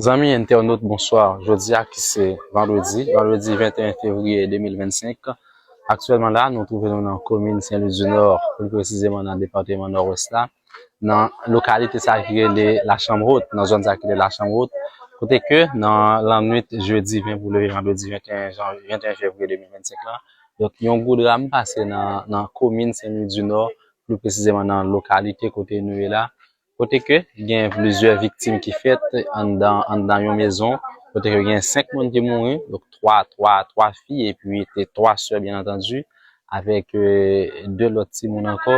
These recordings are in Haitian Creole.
Zanmi entènot bonswa, jodi a ki se vandredi, vandredi 21 fevriye 2025, aktyèlman la nou twouve nou nan komin Sen Lwi di Nò, pli presizeman nan depateman Nòwès la, nan lokalite sa ki rele la chanm hot, nan zòn sa ki rele la chanm hot, kote ke nan lannwit jodi 20 pou leve vandredi 21 fevriye 2025 la, yon gwo dram pase nan komin Sen Lwi di Nò, pli presizeman nan lokalite kote nou ye la, Kote ke gen plizyè viktim ki fèt anndan anndan yon mezon, kote ke gen 5 moun ki mouri, donk 3 3 3 fi epi te 3 sè byen antandi avèk 2 lòt timoun ankò.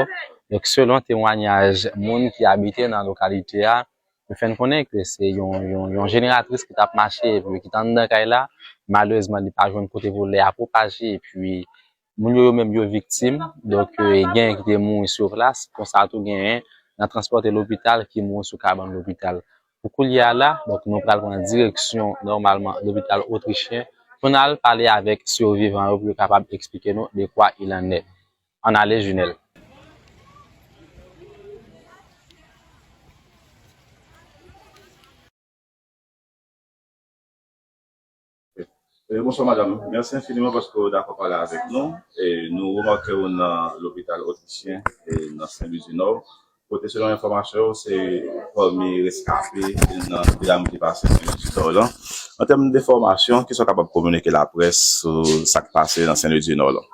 Donk selon temwanyaj moun ki abite nan lokalite a, yo fè n konnen ke se yon yon jeneratris ki t ap mache epi ki t anndan kay la, malerezman li pa jwenn kote pou lè a pwopaje epi Moun yo yo menm yo viktim, donk genyen ki te mouri sou plas, konsa tou genyen nan transpòte lopital ki mouri sou kabann lopital. Pou koulye a la, donk nou pral pran direksyon nòmalman lopital Otrichyen pou n al pale avèk sivivan yo pou yo kapab eksplike nou de kwa il an è. Ann ale Junel. Oui, bonsoir madame. Merci infiniment paske ou dakò pale avèk nou. E nou remake ou nan lopital Otisyen e nan Sen Lwi di Nò, kote selon enfòmasyon yo, se pami reskape nan dram ki pase Sen Lwi di Nò lan. An tèm de fòmasyon, kisa ou kapab kominike laprès sou sa k pase nan Sen Lwi di Nò lan?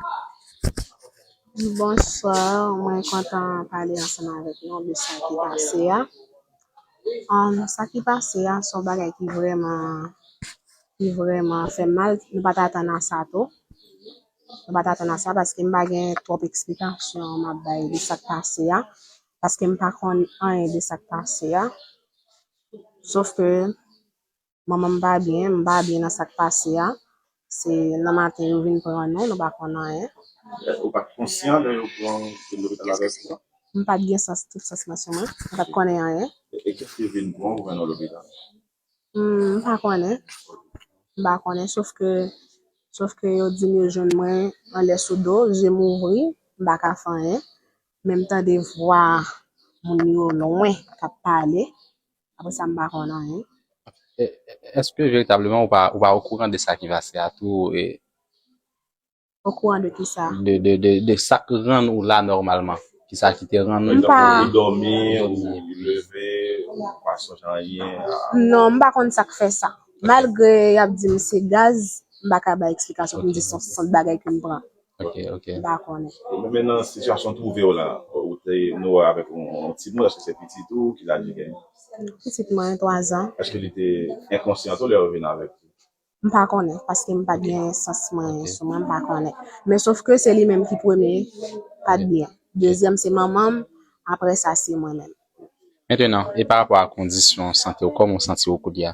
Bonsoir, mwen kontan pale ansanm avèk nou de sa ki pase a. Sa ki pase a son bagay ki vreman ki vreman fè m mal, m pat atann a sa tou, m pat atann a sa paske m pa gen twòp eksplikasyon m ap bay de sak pase a, paske m pa konn anyen de sak pase a sof ke. Manman m pa byen, m pa byen nan sa k pase a. Se nan maten yo vin pran nou, nou pa konn anyen. Ou pa t konsyan lè yo pran w te lopital avèk yo? M pa t gen sans, tout sans mwen sou mwen. M pa t konnen anyen. E kiyès ki vin pran w mennen w lopital? M pa konnen. M pa konnen sof ke, sof ke yo di m yo jwenn mwen anlè sou do, je m ouvri, m pa ka fè anyen. Men m tande vwa moun yo lwen k ap pale. Apre sa m pa konn anyen. E, èske veritableman ou pa, ou pa okouran de sa ki pase a tou? E. Okouran de ki sa? De, de, de, de sa k rann ou la nòmalman. Ki sa ki te rann ou. M pa. Ou dòmi, ou leve, ou pa sonje anyen. Non, m pa konn sa k fè sa. Malgre y ap di m se gaz, m pa ka bay eksplikasyon pou m di se yon sant bagay ke m pran. Ok, ok. M pa konnen. Bon men nan sitiyasyon w twouve w la, ou te nou avèk yon ti moun, èske se pitit ou, ki laj li genyen? Pitit mwen 3 zan. Èske li te enkonsyan tou lè yo vin avèk ou? M pa konnen, paske m pat gen sans mwen sou mwen, m pa konnen. Men sof ke se li menm ki premye pat byen. Dezyèm se manman m, aprè sa se mwen menm. Mentenan, e pa rapò a kondisyon sante w, kòman w santi w koulye a?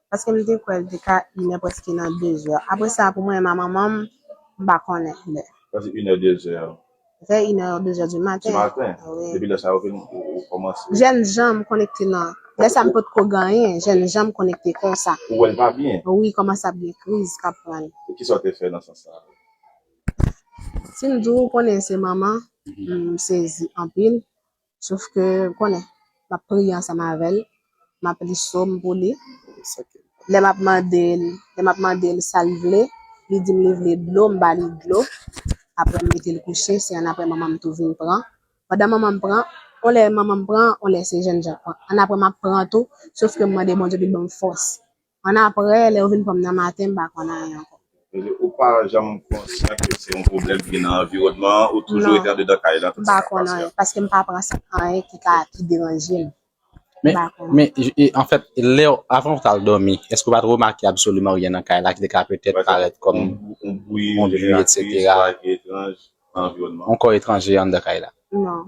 Paske m te kwè l te ka inè prèske nan dezè. Apre sa pou mwen a manman m, m pa konnen lè. Sa se inè dezè. Vè inè ou dezè di maten. Di maten. Wi. Depi lè sa ou vin ou kòmanse. Jènjan m konekte nan. Lè sa m pot ko genyen. Jènjan m konekte konsa. Ou wè l pa byen. Wi kòmanse ap gen kriz k ap pran l. E kisa ou te fè nan sans sa? Si m di w konnen se manman, m sezi anpil. Sof ke, ou konnen, m ap priye ansanm avè l, m ap li som pou li. Lè m ap mande l, lè m ap mande l sa l vle, li di m li vle dlo, m ba li dlo. Apre m mete l kouche, se annapre manman m tou vin pran. Pandan manman m pran, yon lè manman m pran, yon lè se jènjan k pran. Annapre m ap pran tou, sof ke m mande Bondye pou l ban m fòs. Annapre, lè yo vin pran m nan maten, m pa konn anyen ankò. Ou pa janm konsyan ke se yon pwoblèm ki nan anviwònman an? Ou toujou rete andedan kay la tout sa k ap pase a? Non, m pa konn anyen, paske m pa pran sa pou anyen ki ka, ki deranje m. M pa konn. Men, anfèt, lè, avan ou t al dòmi, èske ou pa t remake absoliman ryen nan kay la ki te ka petèt parèt kòm yon bwi, yon bwi, etsetera, yon kò etranje anndan kay la? Non.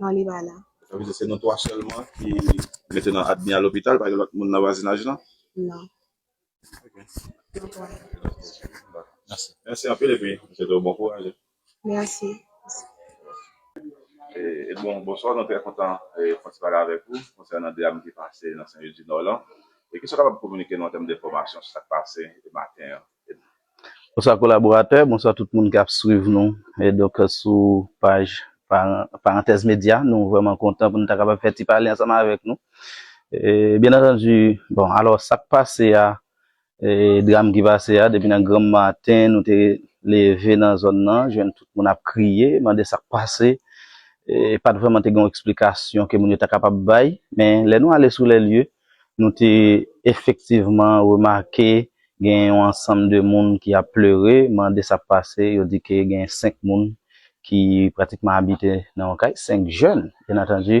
Non li pa la. Sa vle di se nou 3 sèlman ki mete nan admi a lopital pa gen lòt moun nan vwazinaj lan? Non. Ok. Nou 3. Dako. Mèsi. Mèsi anpil epi m swete w bon kouraj. Mèsi. Edmond, bonswa. Nou trè kontan fè ti pale avèk ou konsènan dram ki pase nan Senlwidinò lan. Kisa w kapab kominike nou an tèm de enfòmasyon sou sa k pase maten an? Bonswa kolaboratè, bonswa tout moun kap swiv nou e donk sou paj Parantèz Medya. Nou vrèman kontan pou nou ta kapab fè ti pale ansanm avèk nou. Byen antandu, bon alò sak pase a, dram ki pase a depi nan granm maten nou te leve nan zòn nan jwenn tout moun ap kriye, mande sak pase. Pat vrèman te gen yon eksplikasyon ke moun yo ta kapab bay, men lè nou ale sou lè lye, Nou te efektivman remake gen yon ansanm de moun ki ap pleure, mande sa k pase, yo di ke gen 5 moun ki pratikman abite nan yon kay, 5 jèn, byen antandu,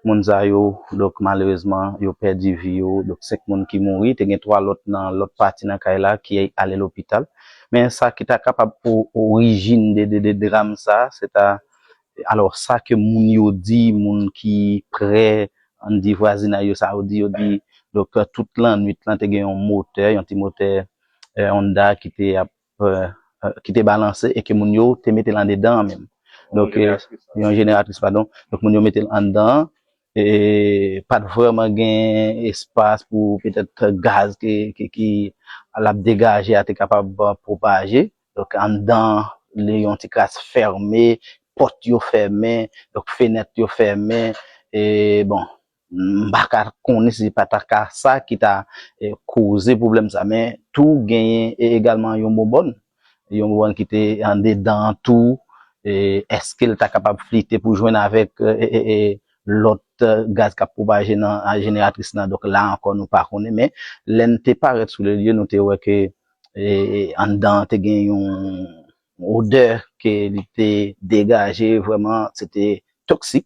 moun sa yo, donk malerezman, yo pèdi vi yo, donk 5 moun ki mouri, te gen 3 lòt nan lòt pati nan kay la ki ale lopital, men sa ki ta kapab pou orijin de dram sa, se ta Alò sa ke moun yo di, moun ki prè, ann di vwazinay yo sa yo di, yo di doktè tout lannwit lan te gen yon motè, yon ti motè Honda ki te ap, ki te balanse e ke moun yo te mete l andedan an menm. Donk, yon jeneratris padon. Donk moun yo mete l anndan an e pa t vrèman gen espas pou petèt gaz ke ki l ap degaje a te kapab pwopaje. Donk anndan an li yon ti kras fème, pòt yo fème, donk fenèt yo fème e bon m pa ka konnen si se pa ta ka sa ki ta koze pwoblèm sa men tou genyen egalman yon bonbòn, yon bonbòn ki te andedan an tou e èske l ta kapab flite pou jwenn avèk lòt gaz k ap pwopaje nan jeneratris lan donk la ankò nou pa konnen men lè n te parèt sou le lye nou te wè ke e anndan an te gen yon odè ke li te degaje vrèman se te toksik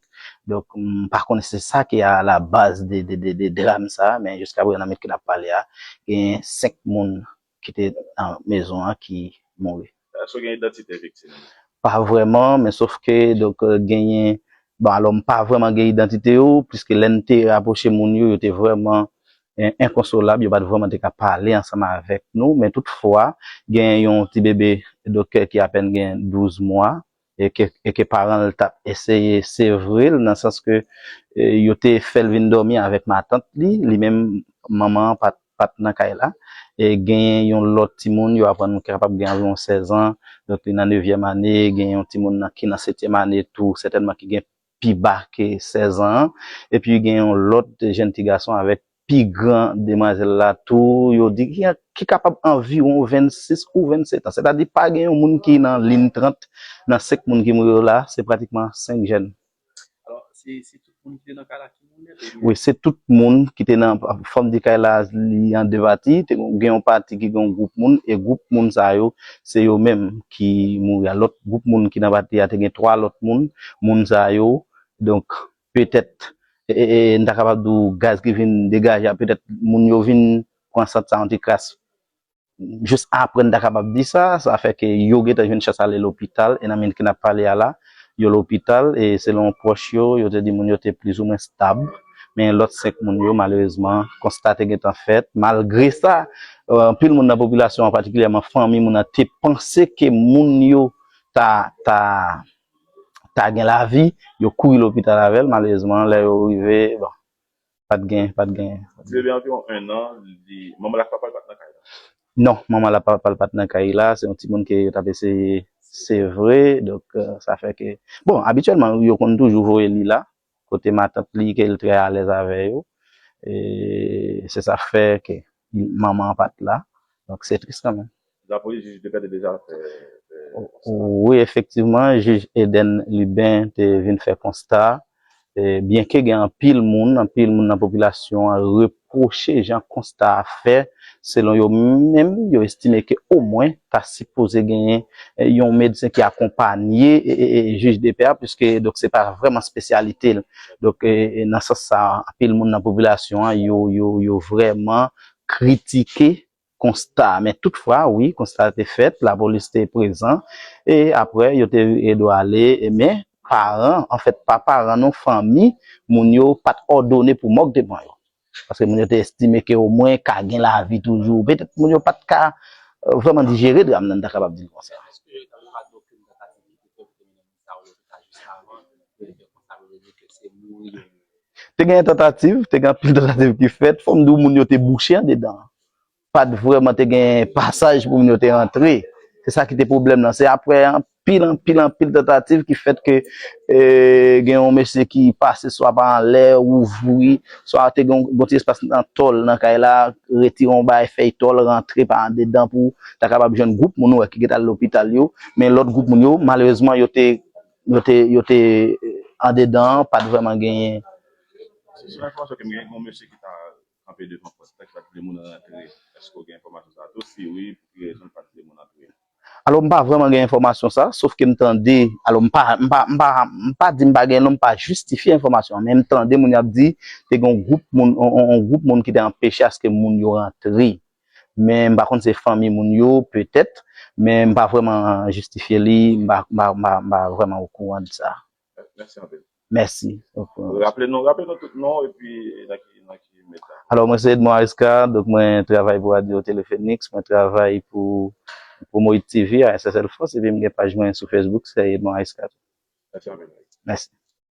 donk m pa konnen si se sa ki a la baz de dram sa men jiska prezan nan minit ke n ap pale a gen 5 moun ki te nan mezon an ki mouri. Èske w gen idantite viktim yo? Pa vrèman, men sof ke donk genyen, bon alò m pa vrèman gen idantite yo, puiske lè n te rapwoche moun yo, yo te vrèman enkonsolab, yo pa t vrèman te ka pale ansanm avèk nou, men tout fwa genyen yon ti bebe donk ki apèn gen 12 mwa, e ke paran l tap eseye sevre l nan sans ke yo te fè l vin dòmi avèk matant li, li menm manman an pat nan kay la, e genyen yon lòt timoun yo aprann nou ki kapab gen anviwon 16 an, donk li nan nevyèm ane, genyen yon timoun ki nan setyèm ane tou sètènman ki gen pi ba ke 16 an an, epi gen yon lòt jèn ti gason avèk pi gran demwazèl la tou, yo di, ki kapab anviwon 26 ou 27 an. Sètadi pa gen yon moun ki nan lin 30 nan 5 moun ki mouri yo la, se pratikman 5 jèn. Wi se tout moun ki te nan fòm di kay la li an 2 pati, te gen yon pati ki gen yon gwoup moun e gwoup moun sa yo se yo menm ki mouri a, lòt gwoup moun ki nan pati a te gen 3 lòt moun, moun sa yo donk petèt n ta kapab di w gaz ki vin degaje a petèt moun yo vin pran sant sa yon ti kras Jis apre n ta kapab di sa, sa fè ke yo gentan jwenn chans ale lopital, e nan minit ke n ap pale a la, yo lopital, e selon pwòch yo, yo te di moun yo te plizoumwen stab, men lòt 5 moun yo, malerezman, konsta te gentan fèt, malgre sa, anpil moun nan popilasyon an, patikilyèman fanmi moun nan, te panse ke moun yo ta, ta, ta gen lavi, yo kouri lopital avè l, malerezman, lè yo rive, bon. Pat gen, pat gen. Ti bebe a anviwon 1 an, li, manman l ak papa l pat nan kay la? Non, manman l ak papa l pat nan kay la, se yon timoun ke yo t ap eseye sevre, donk sa fè ke, bon, abityèlman yo konn toujou voye li la, kote matant li ke l trè alèz avè yo, e se sa k fè ke. Manman an pat la donk se tris kanmenm. La polis jij Debert te deja fè konsta. Wi efektivman jij Eden Lubin te vin fè konsta byenke gen anpil moun anpil moun nan popilasyon an repwoche jan konsta a fè selon yo menm yo estime ke omwen ta sipoze genyen yon medsen ki akonpanye jij Debert piske donk se pa vrèman spesyalite l. Donk nan sans sa a, anpil moun nan popilasyon an yo vrèman kritike konsta a. Men tout fwa, wi, konsta a te fèt, lapolis te prezan, e apre yo te dwe ale, men paran, anfèt pa paran non, fanmi moun yo pa t òdone pou mòg te pran yo. Paske moun yo te estime ke omwen ka gen lavi toujou. Petèt moun yo pa t ka vrèman dijere dram nan, m ta kapab di l konsa. Te gen tantativ, te gen anpil tantativ ki fèt, fòm di w moun yo te bouche andedan. Pat vrèman te gen pasaj pou moun yo te antre. Se sa ki te pwoblèm nan. Se aprè anpil, anpil, anpil tantativ ki fèt ke gen yon mesye ki pase swa pa anlè, ouvri, swa te gen yon ti espas nan tòl nan kay la, retire yon bagay fèy tòl, rantre pa andedan pou. ta kapab jwenn gwoup moun ou wè ki gen tal lopital yo, men lòt gwoup moun yo malerezman yo te yo te yo te andedan an pat vrèman genyen. Si selon enfòmasyon ke m gen gen yon mesye ki ta kanpe devan pòt la ki pat vle moun rantre, èske w gen enfòmasyon sa tou, si wi pou ki rezon li pat vle moun antre? Alò m pa vrèman gen enfòmasyon sa, sof ke m tande, alò m pa m pa m pa m pa di m pa gen non m pa jistifye enfòmasyon an men m tande moun yo ap di te gen yon gwoup moun yon gwoup moun ki te anpeche aske moun yo rantre. men m pa konn se fanmi moun yo petèt men m pa vrèman jistifye li m pa vrèman okouran de sa. Mèsi anpil. Mèsi. Raple nou raple nou tout non w epi nan ki nan ki meta. Alò mwen se Edmond Ariscar donk mwen travay pou radyo Telefenix mwen travay pou Promohit TV a SSL France epi m gen paj mwen sou Facebook se Edmond Ariscar tou. Mèsi anpil. Mèsi.